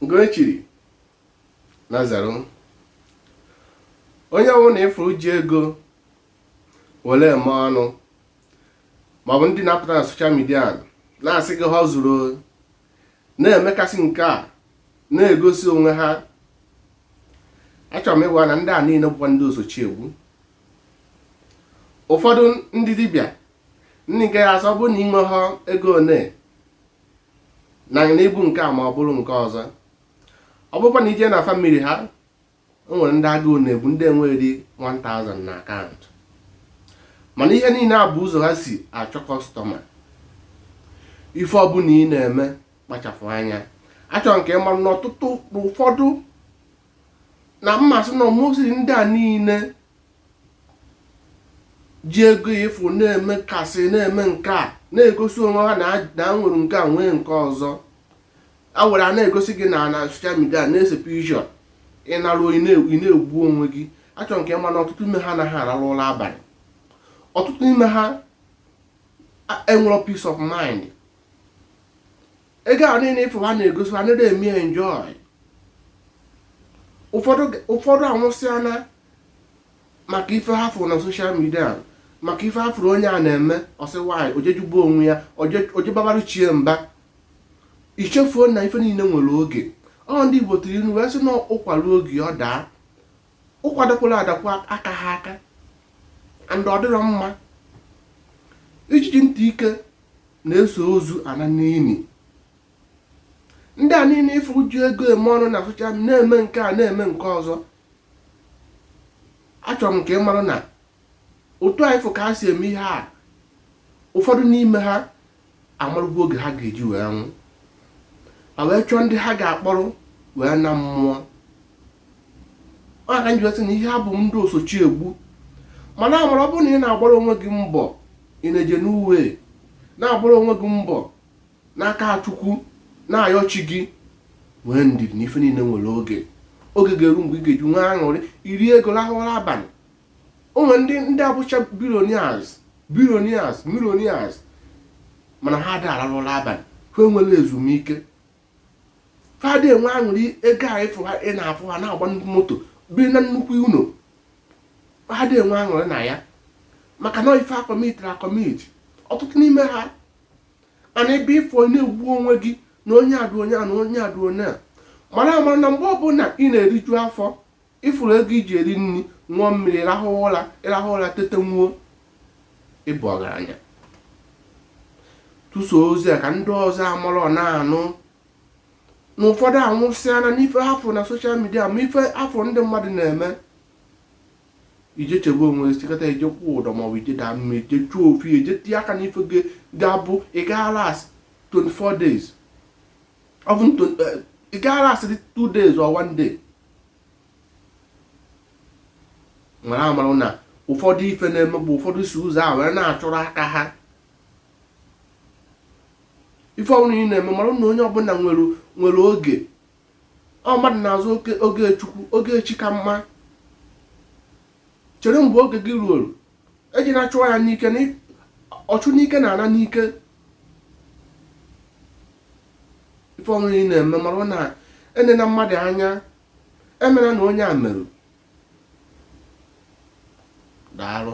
Ngoechiri Nazaru onye ọbụla ị fụrụ ji ego were eme ọnụ maọbụ ndị na-apụta na soshal midia na-asị gị ha zuru na-emekasị nke a na-egosi onwe ha achọrọ m ịgwa na ndị a niile bụkwa ndị osochi egbu ụfọdụ ndị dibịa ndị nke ya-asị ọ bụrụ na i nye ha ego one na n'ibu nke a ma ọ bụrụ nke ọzọ ọ bụrụkwa na i je na famili ha o nwere ndị agụụ na-egbu ndị enweghị 1000 n'akaụntụ mana ihe niile a bụ ụzọ ha si achọ kọstọma ife ọbụla ị na-eme kpachapụ anya achọrọ m ka ị ma na ọtụtụ ụfọdụ na m asị na ọ mostly ndị a niile ji ego ị fụ na-emekasị na-eme nke a na-egosi onwe ha na ha nwere nke a nwee nke ọzọ a were a na-egosi gị na soshal midia na-ese picture ị naruo ị na-egbu onwe gị achọrọ m ka ị ma na ọtụtụ ime ha anaghị ararụ ụra abalị ọtụtụ ime ha enwerọ peace of mind ego a niile ị fụ ha na-egosi ha adị eme enjoy ụfọdụ ụfọdụ anwụsịana maka ife ha fụrụ na soshal midia maka ife ha fụrụ onye a na-eme ọsị nwaanyị ojejugbu onwe ya ojebabarụ chie mba i chefuo na ife niile nwere oge ọ ndị Igbo tụrụ inu wee sị na ụkwa ruo oge ọ daa ụkwa dakwala adakwa aka ha aka and ọ dịrọ mma ijiji ntị ike na-eso ozu ana n'ili ndị a niile ị fụ ji ego eme ọnụ na soshal na-eme nke a na-eme nke ọzọ achọrọ m ka ị mara na otu anyị fụ ka ha si eme ihe a ụfọdụ n'ime ha amarụgo oge ha ga-eji wee nwụ ma wee chọọ ndị ha ga-akpọrọ wee naa mmụọ ọ ka m ji wee sị na ihe ha bụ ndị osochi egbu mana amara ọ bụrụ na ị na-agbara onwe gị mbọ in a genuine way na-agbara onwe gị mbọ n'aka Chukwu na-ayọ chi gị nwee ndidi na ife niile nwere oge oge ga-eru mgbe ị ga-eji nwee aṅụrị i rie ego lahụ ụla abalị o nwere ndị abụcha billionaires billionaires millionaires mana ha ada ararụ ụla abalị ha enwerọ ezumike ha adị enwe aṅụrị ego a ị fụ ha ị na-afụ ha na-agba nnukwu moto biri na nnukwu ụlọ ha adị enwe aṅụrị na ya maka na ife ha kọmitiri akọmiti ọtụtụ n'ime ha ị nọ ebe afụ na-egbu onwe gị na onye adụ onye a na onye adụ onye a mara amara na mgbe ọbụla ị na-eriju afọ ịfụrụ ego iji eri nri ṅụọ mmiri rahụ ụra ịrahụ ụra tete nwuo ịbụ ọgaranya tụso ozi a ka ndị ọzọ amara ọ na-anụ na ụfọdụ anwụsịana n'ife ha fụ na social media ma ife a fụ ndị mmadụ na-eme ije chegbue onwe ị kata ije kwụ ụdọ maọbụ ije daa mmiri ije chụọ ofu ije tinye aka n'ife ga-abụ ị ga-alast 24 days even to eh, ị ga-alastịrị two days or one day mara amara na ụfọdụ ife na-eme bụ ụfọdụ si ụzọ a were na-achụrụ aka ha ife ọbụla ị na-eme mara na onye ọbụla nwere oge ọ mmadụ na-azụ oge chukwu oge chi ka mma chere mgbe oge gị ruoro ejina achụ ya n'ike ọchụ n'ike na-ana n'ike ife ọbụla ị na-eme mara na enena mmadụ anya emena na onye a merụ daalụ